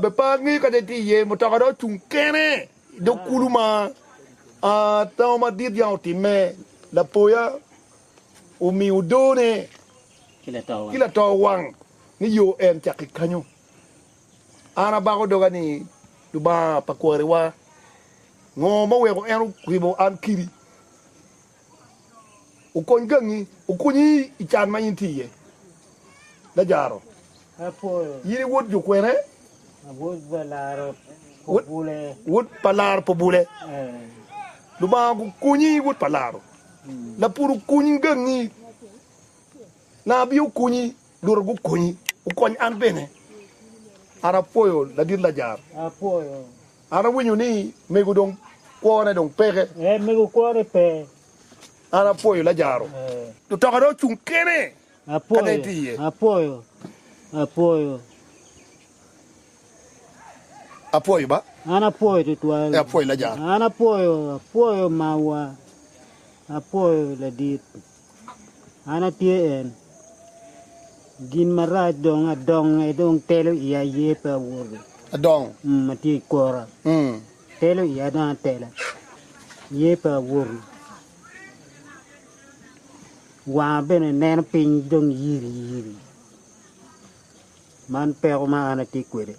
Be par ngeyo ka dong itye iye mutoka dong ocung kene i dog kulu ma tango madit yam otimme. Lapoya omiyo odone ki lato wang ni yo en cako ki kanyo. An abako doga ni, Lubanga pa kwariwa, ngo ma oweko en oribo an kidi? okony gangi, okonyi i can ma in itye iye. Lajaro, in i wod jo kwene? Wod pa laro pa obule. Lubanga okonyi, wod pa laro. Lapur okony gangi. Nabi okonyi, luot gukonyi. Okony an bene. An apwoyo ladit Lajaro. An awinyo ni mego dong kwone dong peke. Eh mego kwone pe. An apwoyo Lajaro. Eh. Mutoka dong ocung kene. Apwoyo. Kane itye iye. Apwoyo. Apwoyo. Apwoyo ba. An apwoyo tutwal. Eh apwoyo Lajaro. An apwoyo, apwoyo mawa. Apwoyo ladit. An atye en. Gin marac dong adonge, dong telo iya aye pe awoto. Adong. Mm, atye i kora. Mm. Telo iya dong atelo. Ye pe awoto. Wanga bene neno piny dong yiri yiri. Man peko ma an atye kwede.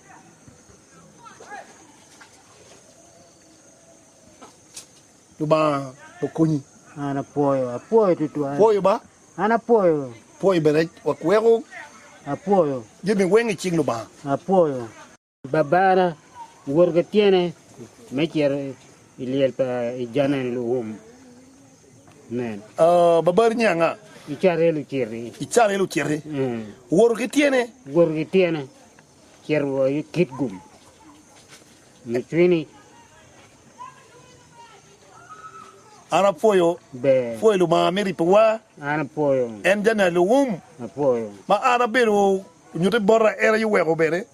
Lubanga okonyi. An apwoyo, apwoyo tutwal. Pwoyo ba. An apwoyo. Pwoyo bene wek weko. Apwoyo. Jami weng icing Lubanga. Apwoyo. Babara owoto ki tyene me cito i lyel pa i janel luum. Amen. Uh, babari ni anga? I Carel ociti. I Carel ociti. Mm. Owoto ki tyene. Owoto ki tyene. Cit woko i kit gum mucwini. An apwoyo pwoyo Lubanga me ripowa, en jami alum ma an abedo onyutte bota, en aye oweko bene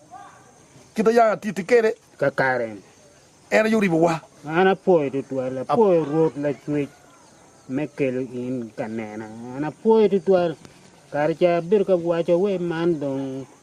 kit ma yam atiti kwede kakare, en aye oribowa. An apwoyo tutwal, apwoyo Rwot Lacwec me kelo in ka nena, an apwoyo tutwal kare ca abedo ka waco wai man dong.